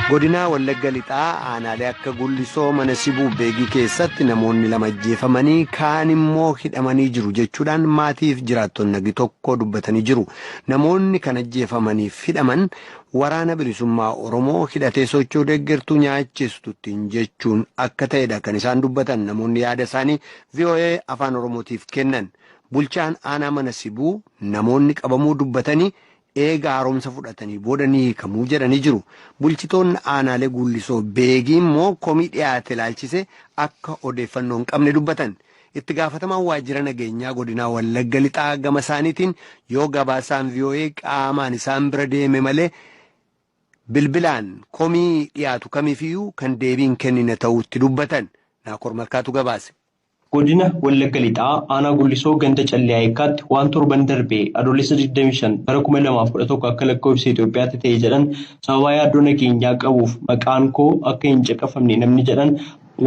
godinaa wallagga lixaa aanaalee akka gullisoo mana sibuu beegii keessatti namoonni lama ajjeefamanii kaan immoo hidhamanii jiru jechuudhaan maatiif jiraattonni nagi tokko dubbatanii jiru namoonni kan ajjeefamaniif hidhaman waraana bilisummaa oromoo hidhatee sochoo deeggartuu nyaachistuttiin jechuun akka ta'edha kan isaan dubbatan namoonni yaada isaanii voa afaan oromootiif kennan. Bulchaan aanaa mana sibuu namoonni qabamuu dubbatanii eega haaromsa fudhatanii booda ni hiikamuu jedhanii jiru. Bulchitoonni aanaalee Guullisoo Beegii immoo komii dhiyaate ilaalchise akka odeeffannoo hin qabne dubbatan. Itti gaafatamaan waajjira nageenyaa godinaa Wallagga Lixaa gama isaaniitiin yoo gabaasaan VOA qaamaan isaan bira deeme malee bilbilaan komii dhiyaatu kamiifiyyuu kan deebii hin kennine ta'uutti dubbatan. Naakoor Malkaatu gabaase. Godina Wallagga Lixaa Aanaa Gullisoo Ganda Callee Ayekkaatti waan torban darbe Adoolessa digdamii shan bara kuma lamaa fi kudha tokko akka lakkoofsa Itoophiyaatti ta'e jedhan sababaa yaaddoo nageenyaa qabuuf maqaan koo akka hin caqafamne namni jedhan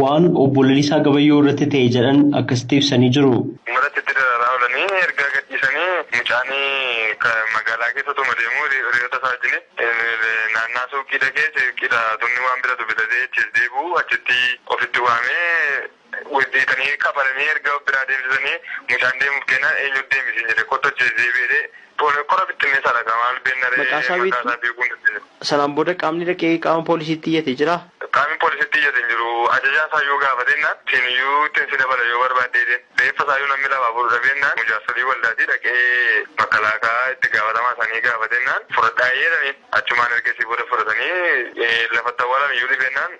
waan Obbo Lalisaa Gabayyoo irratti ta'e jedhan akkasitti ibsanii jiru. Uummatatti itti dararaa oolanii erga gadhiisanii mucaan magaalaa keessa otuma deemuu hiriyoota isaa wajjin naannaa suuqii dhaqee suuqiidhaa tunni waan bitatu bitatee achiis deebi'u achitti ofitti waamee Wal beekanii kafananii erga biraa deemsisanii mucaan deemuuf kennaan eenyutu deemi siin jedhe kottu achi deebi'ee jedhee pooli kora bittinneessaadha kaa maal beennaree Maqaa isaa maqaa beektuu? isaa beekuu hin dandeenyu. Sanaan booda qaamni dhaqee qaama poolisiitti iyyate jiraa? Qaamni poolisitti iyyate hin jiru. Ajajaa isaa yoo gaafate jennaan siin iyyuu ittin si dabala yoo barbaadde jedheen. Reeffa isaa iyyuu namni lafaa fuudhu dhabe jennaan mujaarsolii waldaatii dhaqee makkalaakaa itti gaafatamaa isaanii gaafate jennaan fudhadhaa jedhaniin. Achumaan ergasii booda fudhatanii lafatti awwaalan iyyuu dhibe jennaan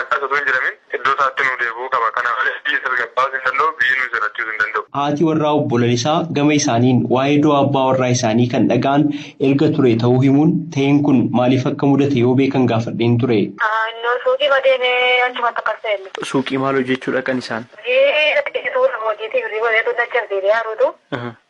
Akkas utuu hin jedhamin iddoo isaatti nuu deebi'uu qaba. Kana malees biyya tasgabbaa'uus hin danda'u, biyya nuu jirachuus hin danda'u. Haati warraa Obbo Lalisaa gama isaaniin waa'ee du'a abbaa warraa isaanii kan dhaga'an erga turee ta'uu himuun ta'een kun maaliif akka mudate yoo beekan gaafadheen ture. Innoo suuqiima deeme achumatti akkas ta'e illee. Suuqii maal hojjechuu dhaqan isaan? Hojii suuta hojiitii birrii godhee tun dachaf deebi'aa ruutu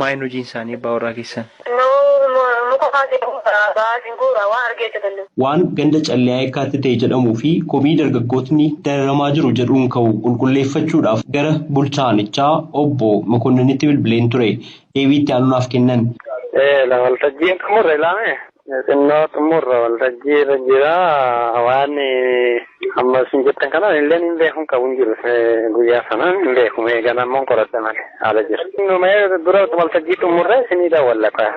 Maa hin hojiin isaanii abbaa warraa keessan. Nuu muka kaasee guura, ba'aas hin guura, waan argee hojjetan nuu. Waan ganda Calliyaa Yekkaatti ta'e jedhamuu fi komii dargaggootni dararamaa jiru jedhuun ka'u qulqulleeffachuudhaaf gara bulchaa aanichaa obbo Mekonninitti bilbileen ture. Deebii itti aanu naaf kennan. Ee, la waltajjiin xumurre laamee. Xinnoo xumurra waltajjii irra jira waan amma isin jettan kana illee hin beeku hin qabu hin jiru guyyaa sana hin beeku mee ganammoon qoradha malee haala jira. Mee dura waltajjii xumurra isinii daawwalla kaa.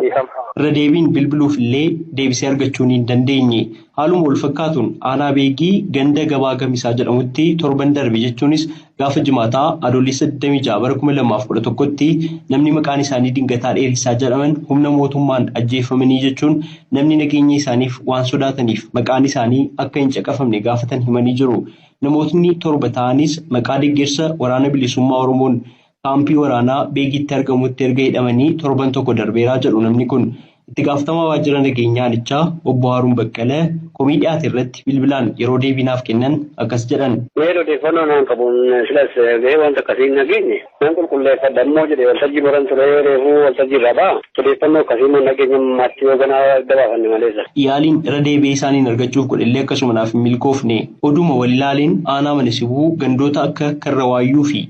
Irra deebiin bilbiluuf illee deebisee argachuu hin dandeenye. Haaluma walfakkaatuun aanaa Beegii ganda Gabaa Gamisaa jedhamutti torban darbe jechuunis gaafa Jimaataa Adoolessa 26 bara 2011tti namni maqaan isaanii Dingataa Dheeressaa jedhaman humna mootummaan ajjeeffamanii jechuun namni nageenya isaaniif waan sodaataniif maqaan isaanii akka hin caqafamne gaafatan himanii jiru. Namootni torba ta'anis maqaa deggersa Waraana Bilisummaa Oromoon Kaampii waraanaa Beegiitti argamutti erga hidhamanii torban tokko darbeera jedhu namni kun. Itti gaafatamaa waajjira nageenyaa aanichaa obbo Haaruun Baqqala komii dhiyaate irratti bilbilaan yeroo deebii naaf kennan akkas jedhan. Meel odeeffannoo naan qabuun silas gahee wanta akkasii hin dhageenye. Nan qulqulleeffadha immoo jedhe waltajjii marran ture reefuu waltajjii irraa ba'a. Odeeffannoo akkasii immoo hin dhageenye ammaatti yoo ganaa adda baafanne maleessa. Yaaliin irra deebi'ee isaaniin argachuuf godhellee akkasuma naaf hin milkoofne. Oduuma wal ilaaleen aanaa Mana Sibuu gandoota akka Karra Waayyuu fi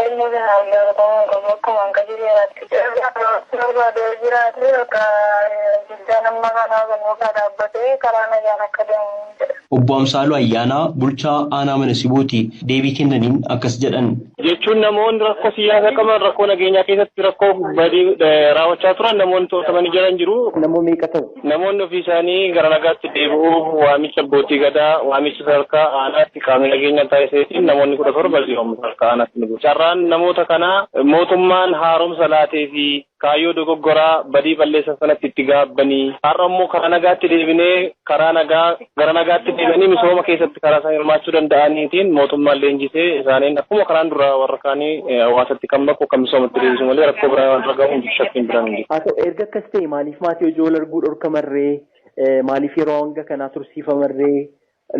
Inni kun hanga Oromoon kun bakkumaan qajeeleeraatti ce'uudhaan barachuu barbaadu yoo jiraate bakka diddaan amma kanaa kun bakka dhaabbatee karaa nagaan akka deemu jedha. Obbo Amsaaluu Ayyaanaa bulchaa aanaa Mana Sibooti deebii kennaniin akkas jedhan. jechuun namoonni rakkoo siyaasaa qaban rakkoo nageenyaa keessatti rakkoo badii raawwachaa turan namoonni to'atamanii jiran jiru. Namoota meeqa ta'u? Namoonni ofiisaanii gara nagaatti deebi'uuf waamicha abbootii gadaa, waamicha sadarkaa aanaatti qaamni nageenyaa taasiseetiin namoonni kudha torba jiru amma sadarkaa aanaatti ni bu'u. Carraan namoota kanaa mootummaan haaromsa laatee fi kaayyoo dogoggoraa badii balleessan sanatti itti gaabbanii har'a immoo karaa nagaatti deebinee karaa nagaa gara nagaatti deebi'anii misooma keessatti karaa isaan hirmaachuu danda'aniitiin mootummaan leenjisee isaaniin akkuma karaan duraa warra kaanii eh, hawaasatti kan maku kan misoomatti deebisu malee rakkoo biraa waan ragahu hin jiru shakkiin biraan hin jiru. Haa ta'u erga akkas ta'e maaliif maatii hojii wal arguu dhorkamarree eh, maaliif yeroo hanga kanaa tursiifamarree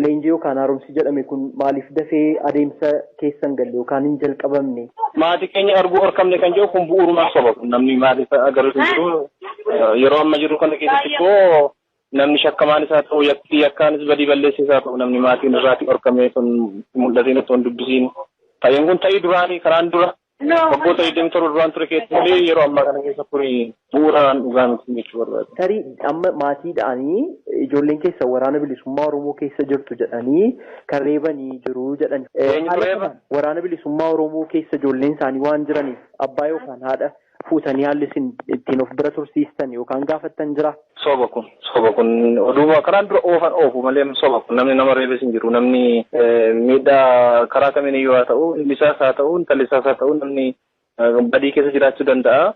leenjii yookaan haaromsi jedhame kun maaliif dafee adeemsa keessan galle yookaan hin jalqabamne. Maatii keenya arguu dhorkamne kan jedhu kun bu'uurumaan soba kun namni maatii isaa agarru hin jiru. Eh, Yeroo amma jiru kana keessatti immoo namni shakkamaanis haa ta'u yakki yakkaanis badii balleessees haa ta'u namni maatiin irraati dhorkamee sun mul'ateen osoo hin dubbisiin ta'een kun ta'ii duraanii karaan dura waggoota 27 duraan ture keessatti malee yeroo ammaa kana keessa kun bu'uuraan dhugaa miti jechuu barbaada. Tarii amma maatiidhaanii ijoolleen keessa waraana bilisummaa Oromoo keessa jirtu jedhanii kan reebanii jiru jedhani. Waraana bilisummaa Oromoo keessa ijoolleen isaanii waan jiraniif abbaa yookaan haadha fuutanii haalli isin ittiin of bira tursiistan yookaan gaafattan jira? Soba kun soba kun oduuma kanaan dura oofan oofu malee soba kun namni nama reebes hin jiru namni miidhaa karaa kamiin iyyuu haa ta'u ilmi isaas haa ta'u intalli isaas haa ta'u namni badii keessa jiraachuu danda'a.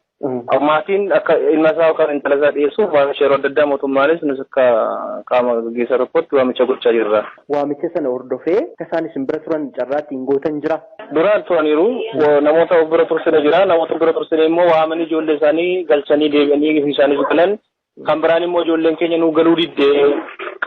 Maatiin akka ilma isaa yookaan intala isaa dhiyeessuuf waamicha yeroo adda addaa mootummaanis nus akka qaama gaggeessaa tokkotti waamicha gochaa jirra. Waamicha sana hordofee akka isaan isin bira turan carraa ittiin gootan jira? Duraan turaniiru namoota of bira tursine jira namoota of bira tursine immoo waamanii ijoollee isaanii galchanii deebi'anii ofii isaaniis galan kan biraan immoo ijoolleen keenya nu galuu didde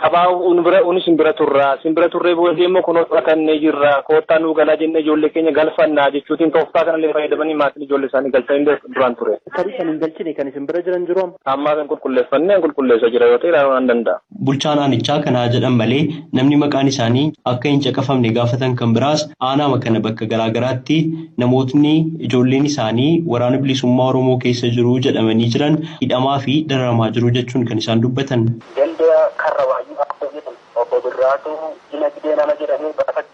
qabaa un bira unis hin bira turra sin bira turree booddee immoo kunoo fudhatannee jirra koottaa nu galaa jennee ijoollee keenya galfannaa jechuutiin tooftaa kanallee fayyadamanii maatiin ijoollee isaanii galchanii duraan ture. Tarii kan hin galchine kan isin bira jiran jiru amma. Ammaa kan qulqulleeffannee qulqulleessa jira yoo ta'e ilaaluu nan danda'a. Bulchaan aanichaa kana haa jedhan malee namni maqaan isaanii akka hin caqafamne gaafatan kan biraas aanaama kana bakka garaagaraatti namootni ijoolleen isaanii Waraana Bilisummaa Oromoo keessa jiru jedhamanii jiran hidhamaa fi dararamaa jiru jechuun kan isaan dubbatan. Ganda Karrawaayyuu Abboo jedhamu Obbo Birraatuu Dinagdee nama jedhamu gaafachuu.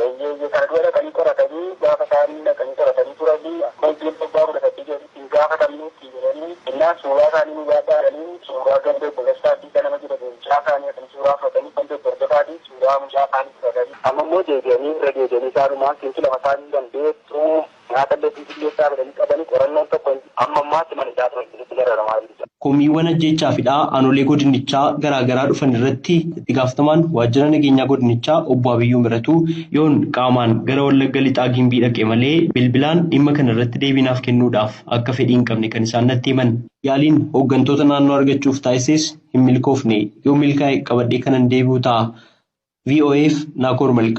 Eeyyee eeyyee kana dura dhaqanii qoratanii gaafa isaan dhaqanii qoratanii turanii akka wajjin waggaa kudha saddeet jedhanitti hin gaafatamne ittiin jedhanii innaan suuraa isaanii nu baadhaa jedhanii suuraa ganda obbo Dastaa Abdiisaa nama jedhamu mucaa isaanii dhaqanii suuraa fudhatanii ganda obbo Hordofaatii suuraa mucaa isaanii fudhatanii amma immoo deebi'anii irra deebi'anii isaanumaan sintu lafa isaa hin danda'e tuu Nyaatallee bilbilleessaa fedhanii qabanii qorannoon tokko hin jiru. Amma ammaatti mana hidhaa turan keessatti dararamaa jiru jedhan. Komiiwwan ajjeechaa fi hidhaa aanolee godinichaa garaa garaa dhufan irratti itti gaafatamaan waajjira nageenyaa godinichaa obbo Abiyyuu Miratuu yoon qaamaan gara Wallagga Lixaa Gimbii dhaqe malee bilbilaan dhimma kana irratti deebii naaf kennuudhaaf akka fedhii hin qabne kan isaan natti himan. Yaaliin hooggantoota naannoo argachuuf taasises hin milkoofne. Yoo milkaa'e qabadhee kanan deebi'u ta'a. VOAf Naakoor Malkaa.